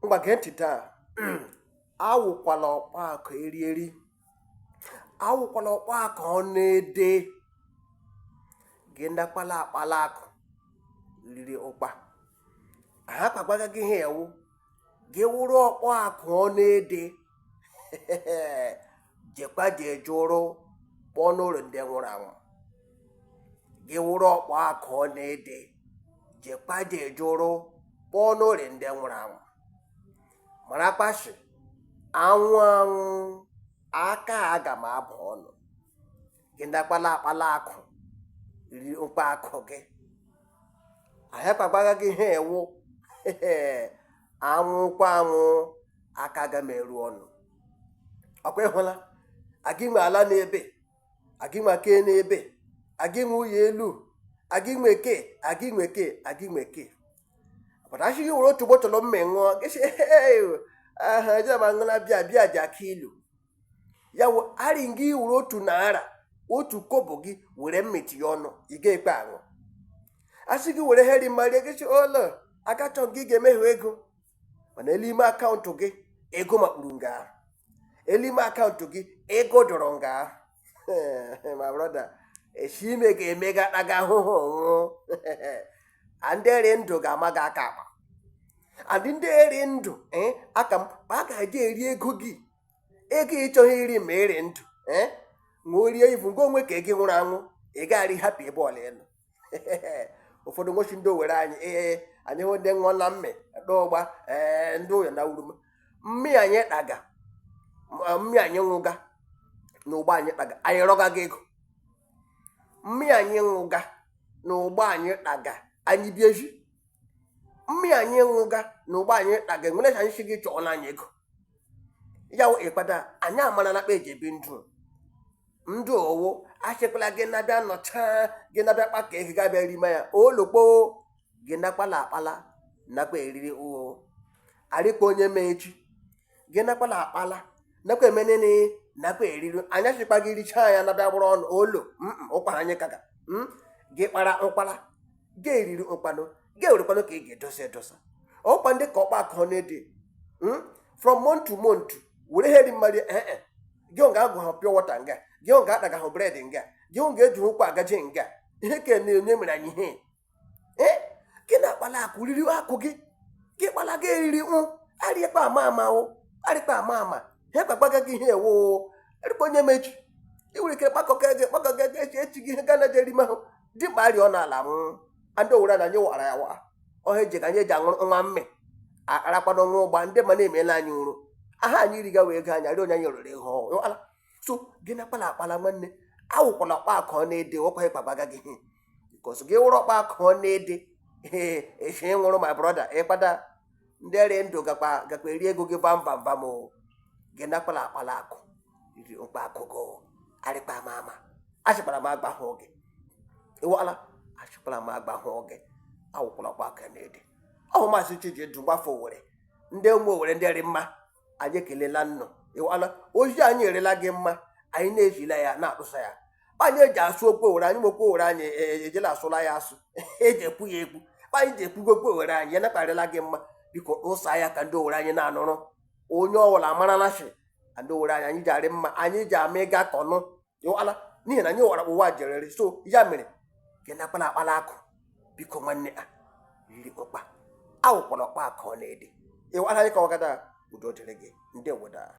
ngwa gee ntị taa awụkwala ọkpa akụ eri eri awụkwala ọkpa akụ ọ na-ede gị ndakwala akpala akụ riri ụkpa ha kpagbaga gị ha ewu gị wụrụ ọkpa akụ ọ na-ede jekwa jee jụrụ kpọọ n'ụlọ ndị nwụrụ anwụ gị wụrụ ọkpa akụ ọ na-ede jekwa jee jụrụ kpọọ n'ụlọ ndị nwụrụ anwụ marakwa shi anwụ anwụ aka agam abụ ọnụ gị ndị akpala akpala akụ riri ụkpa akụ gị ahịa kpagbaga gị ha ewu anwụkwa anwụ aka agam eru ọnụ ọkwa ịhụla agị nwe ala n'ebe agị nwe aka n'ebe agị nwe ụyọ elu agị nwe ke agị nwe ke agị nwe ke pụta asị gị were otu bọtụlụ mme ṅụọ gị sị aha jema ṅụla bịa bịa dị aka ilu ya wụ arị gị wụrụ otu naira otu kobo gị were mmeti ya ọnụ ị ga-ekwe aṅụ asị gị were heri marie gị ụlọ akachọ gị ga-emehie ego mana elime akaụntụ gị ego makpuru nga ahụ elime akaụntụ gị ego dọrọ nga ahụ my brother esi ime ga-emega taga ahụhụ nwụọ ndị rị ndụ ga-ama gị aka akpa adị ndị rị ndụ eh, aka m a ga-eji eri ego gị ego ị chọghị iri ma ị rị ndụ eh? ma o rie ivu nke onwe ka gị nwụrụ anwụ ị gaghara hapụ ebe ọla ịnọ ụfọdụ nwochi ndị Owerri anyị ee anyị wụ ndị ṅụọ na mme ta ụgba ee eh, ndị ụyọ na wuru mmi anyị kpaga mmi anyị ṅụga na ụgba anyị taga anyị rịọga gị ego mmi anyị ṅụga na ụgba anyị taga anyị bi ezi mmi anyị ṅụga na ụgba anyị taga enwere ka anyị si gị chọọ nye anyị ego ya wụ ịkpata anyị amarana kpa eji ebi ndụ ndụ owo asịkwala gị nabịa nọcha gị nabịa kpa ka ego gabịa rime ya olokpo gị na-akpala akpala nakwa eriri ụgho arịkwa onye ma echi gị na-akpala akpala nakwa emenene nakwa eriri anyachị kwa gị richaa ya nabịa gbụrụ ọnụ olu ụkwara anyị kaga hmm? gị kpara ụkwara gị eriri ụkpanụ gị ewerekwanụ ka ị ga-edosa edosa ọkwa ndị ka ọkpa akụ na-ede hmm? from month to month were heri mmadụ ee eh, eh. gị ọ ga-aṅụga pịọ wọta nga gị ọ ga-ataga ha bred nga gị ọ ga-eji ụkwụ agaje nga ihe ka na-enye mere anyị ihe ee gị na-akpala akụ riri akụ gị gị kpala gị eriri ọnwụ arịkpa ama ama o arịkpa ama ama ha gbagbaga gị ihe ewo erikpa onye ma echi ị nwere ike kpakọga gị kpakọga gị echi echi gị ihe ga na jerima ahụ dị mkpa arịọ n'ala m ndị owere na anyị wara ya wa ọha eji ka anyị eji aṅụrụ nwa mme akparakpado nwa ụgba ndị ma na-emela anyị ụrụ aha anyị rigawa ego anyị arịọ onye anyị riri ihe ọwụ so gị na kpala akpala nwanne awụkwala ọkpa akụ ọ na-ede ọkwa ịkpagbaga gị because gị wụrụ ọkpa akụ ọ na-ede echi nwụrụ my brother ịkpada ndị rị ndụ gakwa gakwa eri ego gị vam vam vam o gị na kpala akpala akụ ririkpa akụ gị o. arịkpa ama ama ashịkpala m agwahụ gị ịwala ashịkpala m agwahụ gị awụkwala ọkpa akụ na-ede ọ wụ maazị chijindụ nwafọ owere ndị ụmụ owere ndị rị mma anyị ekelela nnụ ịwala ozi anyị arịla gị mma anyị na-ezila ya na-atụsa ya anyị eji asụ okwu owere anyị ma okwu owere anyị e, e, ejela asụla ya asụ eji ekwu ya ekwu anyị ji ekwugo okwu owere anyị ya nakpa arịla gị mma biko tụsa ya ka ndị owere anyị na-anụrụ onye ọwụla amarala shi ndị owere anyị anyị ji arị mma anyị ji ama ịgakọ ọnụ ịwala n'ihi na anyị wara ụwa ji eriri so ya mere gị nakpala akpala akụ biko nwanne a ririkpa awụkwala ọkpa akụ ọ na-ede ịwala anyị ka ọ gada udo dịrị gị ndị weda